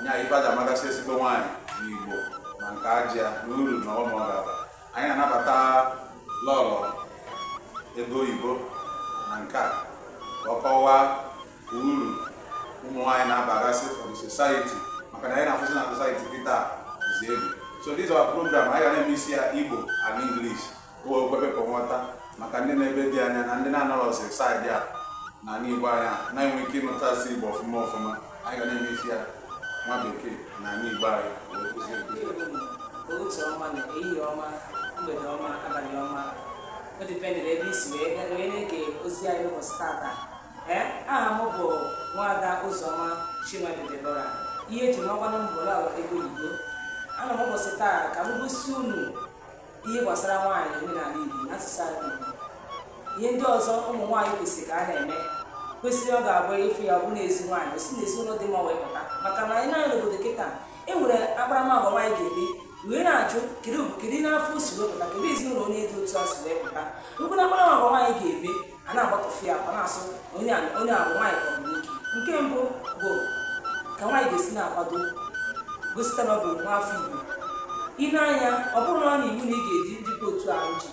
nya ife e ji amagasị ezigbo nwaanyị n'igbo ma nke aja na uru na ọnụ ọ ga-aba anyị anabata lọlọ ego oyibo na nke a ka ọ kọwaa uru ụmụ nwaanyị na-abagasị for the society maka na anyị na-afụzi na society kịta dịzi egwu so this our program anyị ga na-emiksi ya igbo and english bụ o kwebepụ nghọta maka ndị nọ ebe dị anya na ndị na-anọrọzi saịdị a na ala Igbo anya na-enwe ike ịnụtasị Igbo ọfụma ọfụma anyị ga na-emiksi ya nwa bekee na Igbo anyị wee kụzie nkụzi ya. ụtụtụ ọma na ehihie ọma mgbede ọma abalị ọma o dipendịrị ebe i si wee ga- wee na-ege ozi anyị n'ụbọchị tata ee aha m bụ nwaada ụzọma chinwere debora ihe eji makwanụ m bụ lọlọ ego oyibo ana m ụbọchị taa ka m gosi unu ihe gbasara nwaanyị omenala Igbo na asụsụ ala Igbo ihe ndị ọzọ ụmụ nwaanyị kwesịrị ka ha na-eme kwesịrị ọ ga-abụ ị fụ ya bụ n'ezi nwaanyị o si n'ezi ụlọ dị mma wee pụta maka na anyị naanị n'obodo kịta e nwere akparamagwa nwaanyị ga-eme wee na-ajụ kedu kedu n'afọ o si wee pụta kedu ezinụlọ onye dị otu a si wee pụta e nwekwara akparamagwa nwaanyị ga-eme a na-agbatọfe ya a na-asị onye a onye a bụ nwaanyị ka ọ bụ nwoke nke mbụ bụ ka nwaanyị ga-esi na-akwado gosita na ọ bụ nwa afọ igbo i nee anya ọ bụrọ na ọ bụ iwu na ị ga-eji njikọ otu ahụ ji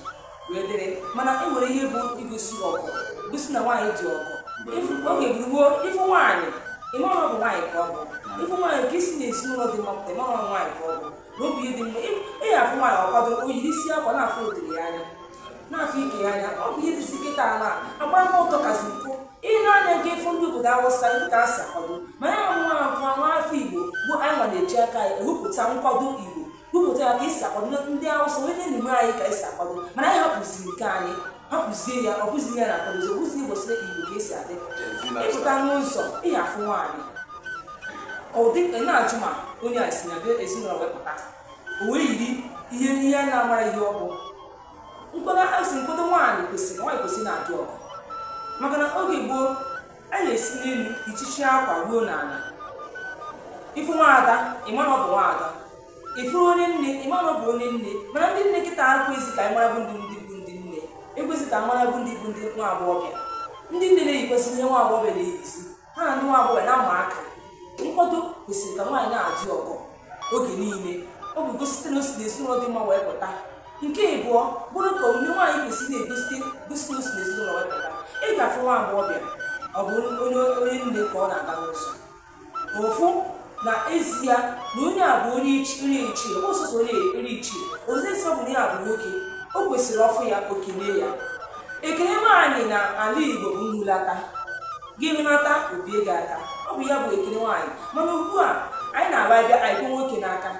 wee dịrị mana e nwere ihe bụ igosi ọgọ gosi na nwaanyị dị ọgọ ị fụ- oge gboo gboo ị fụ nwaanyị ị mara ọ bụ nwaanyị ka ọ bụ ị fụ nwaanyị nke si na ezinụlọ dị mma pụta ị mara ọ bụ nwaanyị ka ọ bụ na obi dị mma ị ị ga-afụ nwaanyị ọ kwadoro o yiri isi akwa na-afụ otere ya anya na-afụ ike ya anya ọ bụ ihe dịzi kịta na agbam ọtọ kazi mpụ i nee anya nee ị fụ ndị obodo awụsa ndị ka a si akwado ma anyị nwa nwa nwa afọ igbo bụ anyị nwa na-eji aka anyị ewepụta nkwado igbo wepụta ya ka esi akwado ndị awụsa onye na-enye anyị ka esi akwado mana anyị hapụziri nke anyị hapụzie ya ọ bụzi ya na-akwadozi ọ bụzi igbo sịrị igbo ka esi adị ị pụta n'ụzọ ị ya-afụ nwaanyị ọ dị ka ị na-ajụ ma onye a si na be ezinụlọ wee pụta o wee yiri ihe ihe a na-amarọ ihe ọ bụ nkwado asị nkwado nwaanyị kwesịrị nwaanyị kwesịrị na-adị ọgọ maka na oge gboo a na-esi n'elu ichichi akwa ruo n'ala ị fụ nwaada ị mara na ọ bụ nwaada ị fụrụ onye nne ị mara bụ onye nne mana ndị nne kịta ekwezi ka anyị mara bụ ndị ndị bụ ndị nne ekwezi ka mara bụ ndị bụ ndị nwa agbọghọbịa ndị nne na-eyikwazi ihe nwa agbọghọbịa na-eyizi ha na ndị nwa agbọghọbịa na-ama aka nkwado kwesịrị ka nwaanyị na-adị ọgọ oge niile ọ bụ gosite na o si na ezinụlọ dị mma wee pụta nke ịbụọ bụrụ ka onye nwaanyị kwesịrị na-egosite gosite na o si na ezinụlọ wee pụta ị ga-afụ nwa agbọghọbịa ọ bụ onye onye nne ka ọ na-aga n'ụzọ ofu na ezi ya na onye a bụ onye ichi- onye ichie ọ bụ sọsọ onye onye ichie ozi nsọ bụ na ya bụ nwoke o kwesịrị ọ fụ ya o kene ya ekele nwaanyị na ala igbo bụ nhulata gị hulata o bie gị aka ọ bụ ya bụ ekele nwaanyị mana ugbu a anyị na-aba abịa anyị kwe nwoke n'aka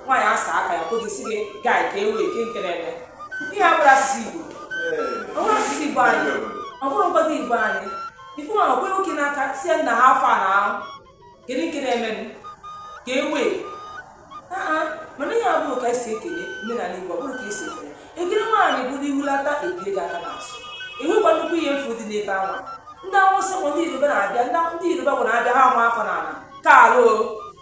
nwaanyị asa aka ya kwe gị sị gị guy kee way kee nke na-eme ihe a abụrọ asụsụ igbo ọ bụrọ asụsụ igbo anyị ọ bụrọ mgbado igbo anyị ị fụ nwa o kwe nwoke n'aka si ya nna how far na kedu nke na-emenụ kee way aa mana ihe a abụrọ ka esi ekele omenala igbo ọ bụrọ ka esi ekele ekele nwaanyị bụ na ihulata e bie gị aka n'azụ enwekwa nnukwu ihe mfu dị n'ebe ahụ ndị awụsa ma ndị yoruba na-abịa ndị yoruba bụ na-abịa ha ama afọ n'ala ka alụ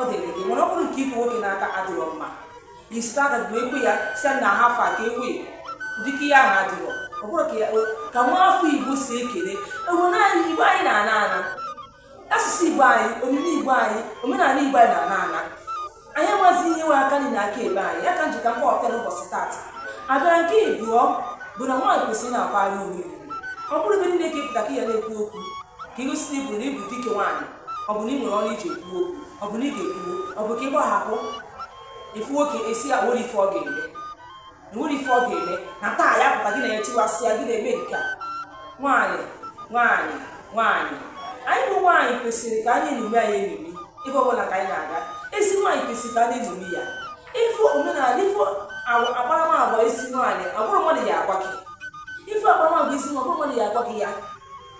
ọ dịrị gị mana ọ bụrụ nke ikwe nwoke n'aka adịrọ mma isetị aka gị wee kwe ya si nna how far kee way dịka ihe ahụ adịrọ ọ bụrọ ka ya ka nwa afọ igbo si ekele obodo anyị igbo anyị na-ana ana asụsụ igbo anyị omume igbo anyị omenala igbo anyị na-ana ana anyị amazi ihe nwe aka niile aka ebe anyị ya ka m ji ka m kpọpụta n'ụbọchị taata a bịa na nke ịbụọ bụ na nwaanyị kwesịrị na-akwara onwe ya ọ bụrọ ebe niile ka ị pụta ka ya na-ekwu okwu ka igosi na iburu na ị bụ dike nwaanyị ọ bụ na ị nwere ọnụ i ji ekwu okwu ọ bụ na ị ga-ekwuo ọ bụ ka ị gbahapụ ị fụ nwoke ị sị ya nwere ife ọ ga-eme enwere ife ọ ga-eme na taa ya pụta gị na ya tiwasịa gị na-eme nke a nwaanyị nwaanyị nwaanyị anyị bụ nwaanyị kwesịrị ka a na-enyomi anyị enyomi ebe ọbụla ka anyị na-aga ezi nwaanyị kwesịrị ka a na-enyomi ya ị fụ omenala ị fụ akparamagwa ezi nwaanyị ọ bụrọ mmadụ ya agwa gị ị fụ akparamagwa ezi nwa ọ bụrọ mmadụ ya agwa gị ya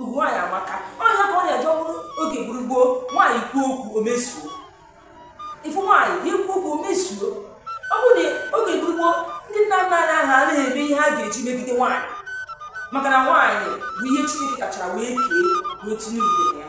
ugwu nwaanyị amaka ọ nya ka ọ na-eje ọ bụrụ oge gboo gboo nwaanyị kwuo okwu o mezuo ị fụ nwaanyị ya kwuo okwu o mezuo ọ bụ na oge gboo gboo ndị nna nna anyị ha anaghị eme ihe ha ga-eji megide nwaanyị maka na nwaanyị bụ ihe chineke kachara wee kee wee tinye ugwu na ya